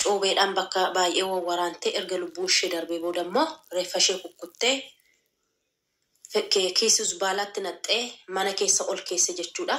Cuubeedhaan bakka baay'ee wawwaraantee erga lubbuun ishee darbee booda immoo reeffa ishee kukkuttee kiisii zbaalaatti naqxee mana keessa ol keesse jechuudha.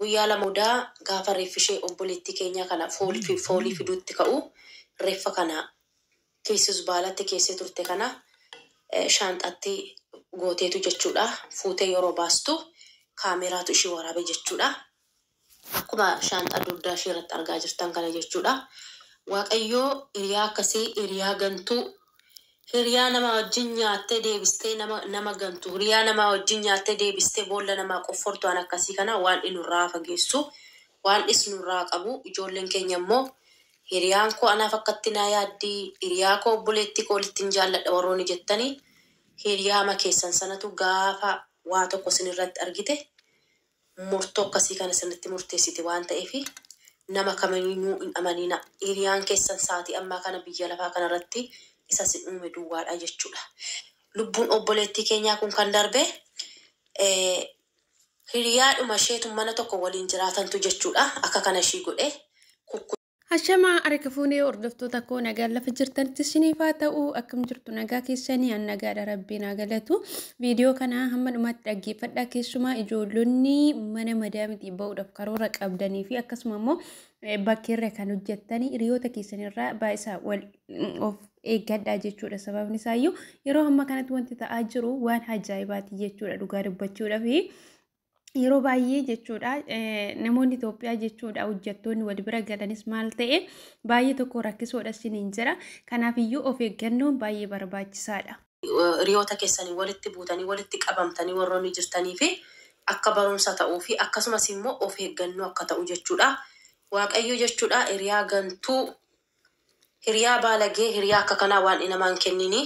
Guyyaa lama booda gaafa reeffi ishee obboleettii keenyaa kana foolii fiduutti ka'u reeffa kana kiisii zbaalaatti keessee turte kana shaanxaatti gooteetu jechuudha fuutee yeroo baastu kaameeraatu ishii waraabe jechuudha. Akkuma shaanxaa dugdaa ishee irratti argaa jirtan kana jechuudha. Waaqayyoo hiriyaa akkasii, hiriyaa gantuu, hiriyaa namaa wajjin nyaattee deebistee nama, nama gantu, hiriyaa namaa wajjin nyaattee deebistee boolla namaa qoffortu waan akkasii kana Waaqni nurraa haa fageessu. Waaqnis nurraa haa qabu. Ijoolleen keenya immoo hiriyaan koo anaaf akkatti naa yaaddi, hiriyaa koo obboleettii koo walittin jaalladha warroonni jettani hiriyaama keessan sanatu gaafa waa tokko isin irratti argite murtoo akkasii kana sirriitti murteessite waan ta'eef nama kamiinuu hin amaninaa. Hiriyaan keessan saatii ammaa kana biyya lafaa kana irratti isa isin uume duwwaadha jechuudha. Lubbuun obboleettii keenyaa kun kan darbe hiriyaadhuma isheetu mana tokko waliin jiraatantu jechuudha akka kana ishii godhe. Hashamaa arika fuunee hordoftoota koo nagaan lafa jirtanitti isiniif haa ta'u akkam jirtu nagaa keessanii an nagaadha rabbiin haa galatu viidiyoo kana hamma dhumaatti dhaggeeffadhaa keessumaa ijoollonni mana madaamitii ba'uudhaaf karoora qabdanii fi akkasuma immoo bakkeerra kan hojjettanii hiriyoota keessanirraa baay'isaa wal of eeggadhaa jechuudha sababni isaayyuu yeroo hamma kanatti wanti ta'aa jiru waan ajaa'ibaati jechuudha dhugaa dubbachuudhaaf. yeroo baay'ee jechuudha namoonni Itoophiyaa jechuudha hojjettoonni wal bira galanis maal ta'e baay'ee tokko rakkisoodha siniin jira. Kanaaf iyyuu of eeggannoon baay'ee barbaachisaadha. Hiriyoota keessanii walitti buutanii walitti qabamtanii warroonni jirtanii fi akka barumsa ta'uu fi akkasumas immoo of eeggannoo akka ta'u jechuudha. Waaqayyo jechuudha hiriyaa gantuu Hiriyaa baalagee hiriyaa akka kanaa waandhi namaa hin kenniini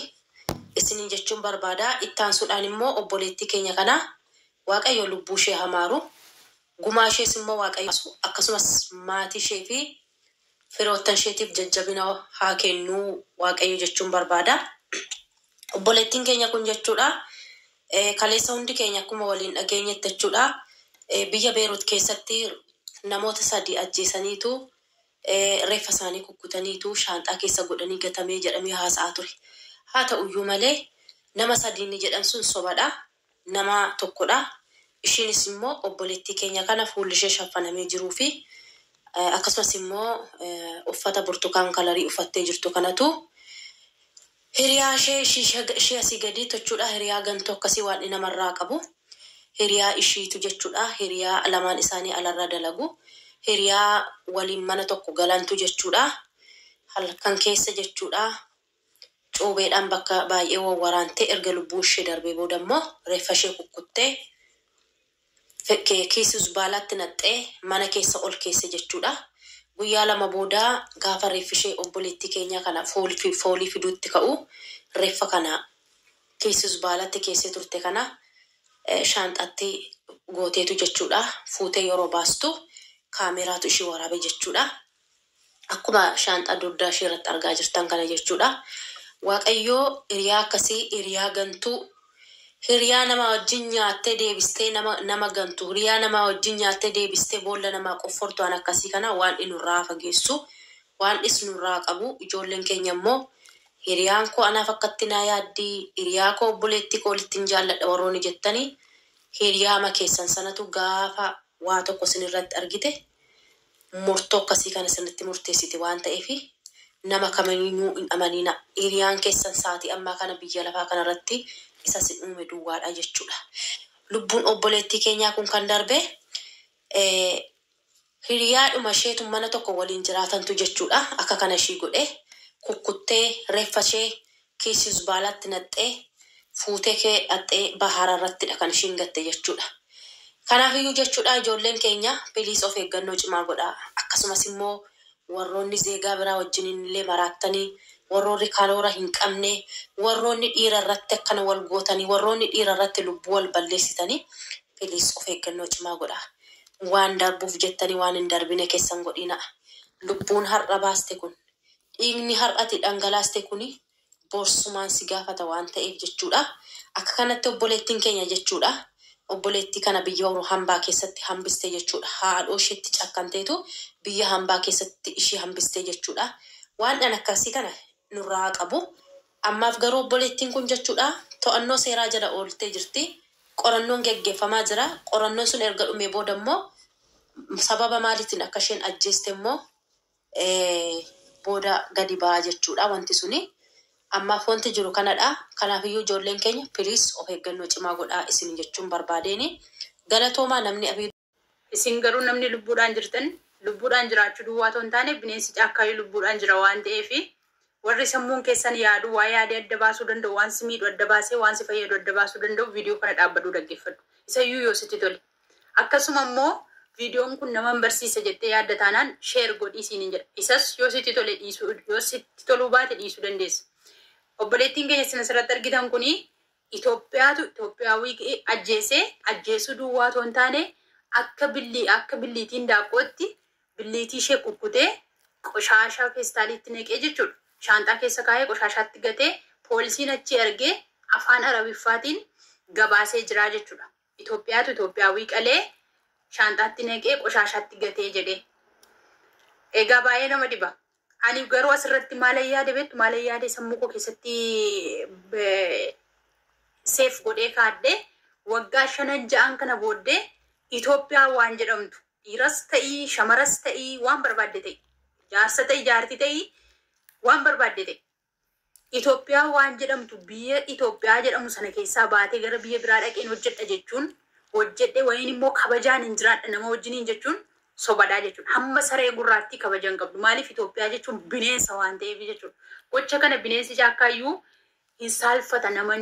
isiniin jechuun barbaada. Itti aansuudhaan immoo obboleettii keenya kana Waaqayyo lubbuu ishee haa maaru, gumaa ishees immoo Waaqayyo haa baasu, akkasumas maatii ishee fi firoottan isheetiif jajjabina haa kennu Waaqayyo jechuun barbaada. Obboleettiin keenya kun jechuudha kaleessa hundi keenya akkuma waliin dhageenyetti jechuudha biyya Beerut keessatti namoota sadii ajjeesaniitu reeffa isaanii kukkutaniitu shaanxaa keessa godhanii gatame jedhamee haasa'aa ture. Haa ta'uyyuu malee nama sadi inni jedhan sun sobadha. Nama tokkodha. Ishiinis immoo obboleettii keenya kana fuulli ishee shaffanamee jiruu fi akkasumas immoo uffata burtukaan kalarii uffattee jirtu kanatu Hiriyaa ishee ishii ishii asii gadii tochuudhaa hiriyaa gantuu akkasii waan'i nama irraa qabu hiriyaa ishiitu jechuudhaa hiriyaa lamaan isaanii alarra dalagu hiriyaa waliin mana tokko galantu jechuudhaa halkan keessa jechuudhaa cuubeedhaan bakka baay'ee wawwaraantee erga lubbuun ishee darbee booda immoo reeffa ishee kukkuttee Kiisii zbaalaatti naqxee mana keessa ol keesse jechuudha. Guyyaa lama booda gaafa reeffishee obboleettii keenyaa kana foolii fiduutti ka'u reeffa kana kiisii zbaalaatti keessee turte kana shaanxaatti gooteetu jechuudha fuutee yeroo baastu kaameeraatu ishii waraabe jechuudha. Akkuma shaanxaa dugdaa ishee irratti argaa jirtan kana jechuudha. Waaqayyoo hiriyaa akkasii, hiriyaa gantuu, hiriyaa namaa wajjin nyaattee deebistee nama nama gantu, hiriyaa namaa wajjin nyaattee deebistee boolla namaa qoffortu waan akkasii kana Waaqni nurraa haa fageessu. Waaqnis nurraa haa qabu. Ijoolleen keenya immoo hiriyaan koo anaaf akkatti naa yaaddi, hiriyaa koo obboleettii koo olittin jaalladha warroonni jettani hiriyaama keessan sanatu gaafa waa tokko isin irratti argite murtoo akkasii kana sirriitti murteessiti waan ta'eef nama kamiinuu hin amaninaa. Hiriyaan keessan sa'aatii ammaa kana biyya lafaa kana irratti isa isin uume duwwaadha jechuudha. Lubbuun obboleettii keenyaa kun kan darbe hiriyaadhuma isheetu mana tokko waliin jiraatantu jechuudha akka kana ishii godhe kukkuttee reeffa ishee Kiisii zbaalaatti naqxee fuutee kee dhaqxee bahaara irrattidha kan ishiin gatte jechuudha. Kanaafiyyuu jechuudha ijoolleen keenya piliis of eeggannoo cimaa godhaa. Akkasumas immoo warroonni zeegaa biraa wajjiniin illee maraattanii, warroorri karoora hin qabne, warroonni dhiira irratti akkana wal gootanii, warroonni dhiira irratti lubbuu wal balleessitanii piliis of eeggannoo cimaa godhaa. Waan darbuuf jettanii waan hin darbine keessa hin godhiinaa. Lubbuun har'a baaste kun Dhiigni har'a ati dhangalaaste kuni borsumaan si gaafata waan ta'eef jechuudha. Akka kanatti obboleettiin keenya jechuudha obboleettii kana biyya horu hambaa keessatti hambiste jechuudha. Haadhoo isheetti cakkanteetu biyya hambaa keessatti ishii hambiste jechuudha. Waandhan akkasii kana nurraa haa qabu. Ammaaf garuu obboleettiin kun jechuudha to'annoo seeraa jala ooltee jirti. Qorannoon geggeeffamaa jira. Qorannoon sun erga dhumee booda immoo sababa maaliitiin akka isheen ajjeeste immoo booda gadi ba'a jechuudha wanti suni. Ammaaf wanti jiru kanadha. Kanaafiyyuu ijoolleen keenya please of eeggannoo cimaa godhaa isiniin jechuun barbaadeeni. Galatoomaa namni abiyyi. Isin garuu namni lubbuudhaan jirtan lubbuudhaan jiraachuu duwwaa otoo hin taane bineensi caakkaayyuu lubbuudhaan jira waan ta'eef Warri sammuun keessan yaadu, waa yaadee adda baasuu danda'u, waan si miidhu adda baasee waan si fayyadu adda baasuu danda'u viidiyoo kana dhaabbadhuu dhaggeeffadhu. Isayyuu yoo sitti tole. Akkasuma immoo viidiyoon kun naman barsiisa jettee yaadda taanaan share godhii siinin jedha. Isas yoo sitti tole dhiisuu yoo sitti toluu baate dhiisuu dandeessa. Obboleettiin keenya isin asirratti argitan kuni Itoophiyaatu Itoophiyaawii ka'ee ajjeese ajjeesuu duwwaa otoo hin taane akka billii akka billiitiin daaqqootti billiitii ishee kukkutee qoshaashaa feestaaliitti naqee jechuudha. Shaanxaa keessa kaa'ee qoshaashaatti gatee poolisiin achii argee afaan Arabiffaatiin gabaasee jira jechuudha. Itoophiyaatu Itoophiyaawwii qalee shaanxaatti naqee qoshaashaatti gatee jedhee. Egaa baay'ee nama dhiba. Ani garuu asirratti maalan yaade beektu maalan yaade sammuu koo keessatti seef godhee kaadhee waggaa shanan ja'an kana booddee Itoophiyaa waan jedhamtu Dhiiras ta'i, shamaras ta'i, waan barbaadde ta'i. Jaarsa ta'i, jaarti ta'i, waan barbaadde ta'i. Itoophiyaa waan jedhamtu biyya Itoophiyaa jedhamu sana keessaa baatee gara biyya biraa dhaqeen hojjedha jechuun hojjedhe wayiin immoo kabajaan hin jiraadha nama wajjiniin jechuun sobadhaa jechuudha. Hamma saree gurraattii kabaja hin qabdu. Maaliif Itoophiyaa jechuun bineensa waan ta'eef jechuudha. Gocha kana bineensi caakkaayyuu hin saalfata nama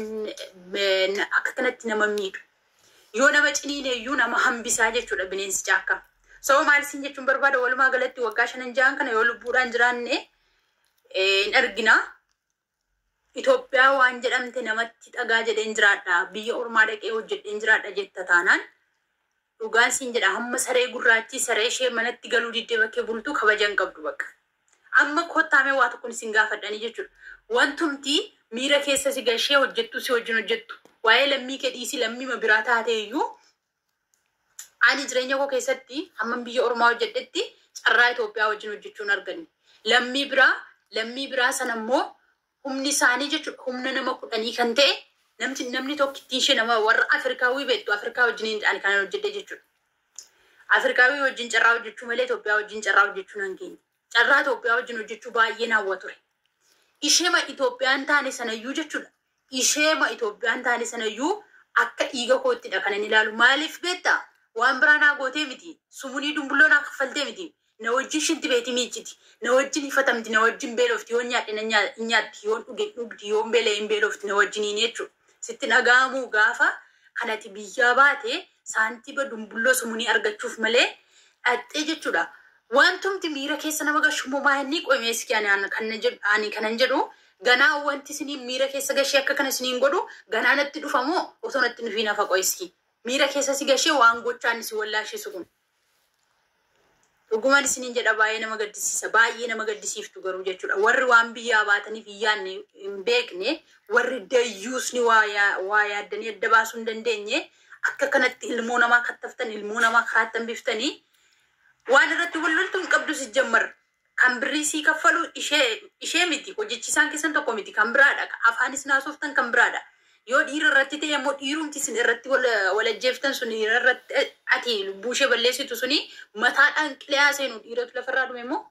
akka kanatti nama miidhu yoo nama ciniine iyyuu nama hambisaa jechuudha bineensi caakkaa soo maal isin jechuun barbaada walumaa galatti waggaa shanan ja'an kana yoo lubbuudhaan jiraanne hin arginaa Itoophiyaa waan jedhamte namatti dhagaa jedheen jiraadha biyya ormaa dhaqee hojjedheen jiraadha jetta taanaan Dhugaan siin jedha hamma saree gurraattii saree ishee manatti galuu diddee bakkee bultu kabaja hin qabdu bakka. Amma kottaa mee waa tokkon isin gaafadhanii jechuudha. Wantumti miira keessa si gashee hojjettuu si wajjin hojjettu waa'ee lammii kee dhiisii lammiima biraa taatee iyyuu ani jireenya koo keessatti hamman biyya ormaa hojjedhetti carraa Itoophiyaa wajjin hojjechuu hin arganne. Lammii biraa lammii biraa sana immoo Humni isaanii jechuudha humna nama kudhanii kan ta'e namti namni tokkittiin ishee nama warra Afrikaawwii beektu Afrikaa wajjiniin ani kanan hojjedhe jechuudha. Afrikaawwii wajjin carraa hojjechuu malee Itoophiyaa wajjin carraa hojjechuu nan geenye. Carraa Itoophiyaa wajjin hojjechuu baay'een hawwa ture. Isheema Itoophiyaan taane sanayyuu jechuudha. Isheema Itoophiyaan taane sanayyuu akka dhiiga koottidha kanan ilaalu. Maaliif beektaa? Waan biraa naa gootee miti. Sumunii dumbulloo naa kaffaltee miti. Na wajjin shinti beeti miicciti. Na wajjin hifatamti, na wajjin beelofti, yoon nyaadhe nan nyaa, in nyaatti, yoon dhuge in dhugdi, yoon beela'e in beelofti, na wajjiniini jechuudha. Sitti hin dhaga'amuu gaafa kan ati biyyaa baate saantiba dumbulloo sumunii argachuuf malee dhaqxee jechuudha. Wantumti miira keessa nama gashu immoo maa inni qoy mee iski ani an- kan na jedhu ani kanan jedhu ganaa wanti isiniin miira keessa gashee akka kana isiniin godhu ganaa natti dhufa moo osoo natti hin dhufiin hafa qoy iski miira keessa si gashee waan gochaan si wallaashisu kun Dhuguman isinin jedha baay'ee nama gaddisiisa baay'ee nama gaddisiiftu garuu jechuudha warri waan biyyaa baataniif hin yaadne hin beekne warri dayyuusni waa yaa- waa yaaddanii adda baasuu hin dandeenye akka kanatti ilmoo namaa kattaftan ilmoo namaa karaattan biftanii waan irratti wal loltu hin qabdu sijjammar Kan birrii sii kaffalu ishee ishee miti hojechisaan keessan tokko miti kan biraadha ka afaan isin haasoftan kan biraadha yoo dhiira irratti ta'e immoo dhiirumti isin irratti wal wal ajjeeftan sun dhiira irratti ati lubbuu ishee balleessitu suni mataadhaan qilayaa seenu dhiiratu lafarraa dhume immoo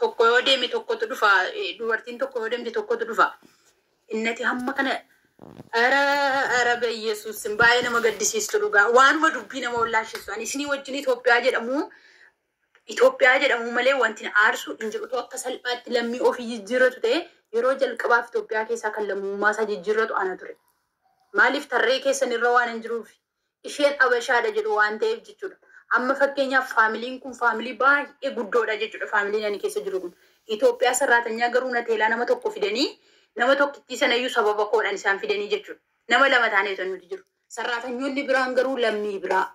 tokko yoo deeme tokkotu dhufa eh, dubartiin tokko yoo deemte tokkotu dhufa innati hamma kana Ara ara beyesus baay'ee nama gaddisiistu dhugaa waanuma dubbii nama wallaashisu ani isinii wajjin Itoophiyaa jedhamu Itoophiyaa jedhamuu malee wanti na aarsu hin jiru. Utuu akka salphaatti lammii ofii jijjiirratu ta'ee, yeroo jalqabaaf Itoophiyaa keessaa kan lammummaasaa jijjiirratu ana ture. Maaliif? Tarree keessan irra waanan jiruuf. Isheen Abashaadha jedhu waan ta'eef jechuudha. Amma fakkeenyaaf faamiliin kun faamilii baay'ee guddoodha jechuudha, faamiliin ani keessa jiru kun. Itoophiyaa sarraatanyaa garuu na teelaa nama tokko fidanii, nama tokkittii sanayyuu sababa koodhaan isaan fidanii jechuudha. Nama lama taanee utuu nuti jiru. Sarraatanyoonni biraan garuu lammii biraa.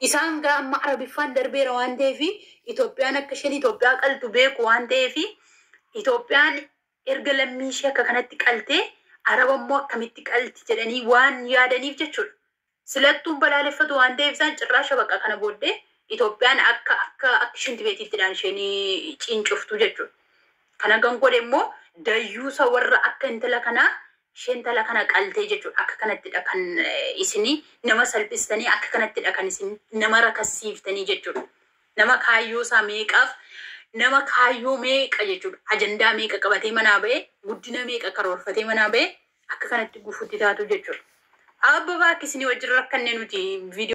Isaan gaa amma Arabiffaan darbeera waan ta'eef Itoophiyaan akka isheen Itoophiyaa qaltu beeku waan ta'eef Itoophiyaan erga lammii ishee akka kanatti qaltee Araba immoo akkamitti qalti jedhanii waan yaadaniif jechuudha. Silattuun balaaleffatu waan ta'eef isaan cirraasha baqa kana booddee Itoophiyaan akka akka akka isheen tibeetiittidhaan isheen ciincoftu jechuudha. Kana kan godhe immoo dayyuusa warra akka intala kanaa Ishee intala kana qaltee jechuudha akka kanattidha kan isin nama salphistanii akka kanattidha kan isin nama rakassiiftanii jechuudha. Nama kaayyoo isaa meeqaaf nama kaayyoo meeqa jechuudha ajandaa meeqa qabatee manaa ba'e guddina meeqa karoorfatee manaa ba'e akka kanatti gufutti taatu jechuudha. Abba baakki isinii wajjin rakkanne nuti viidiyoo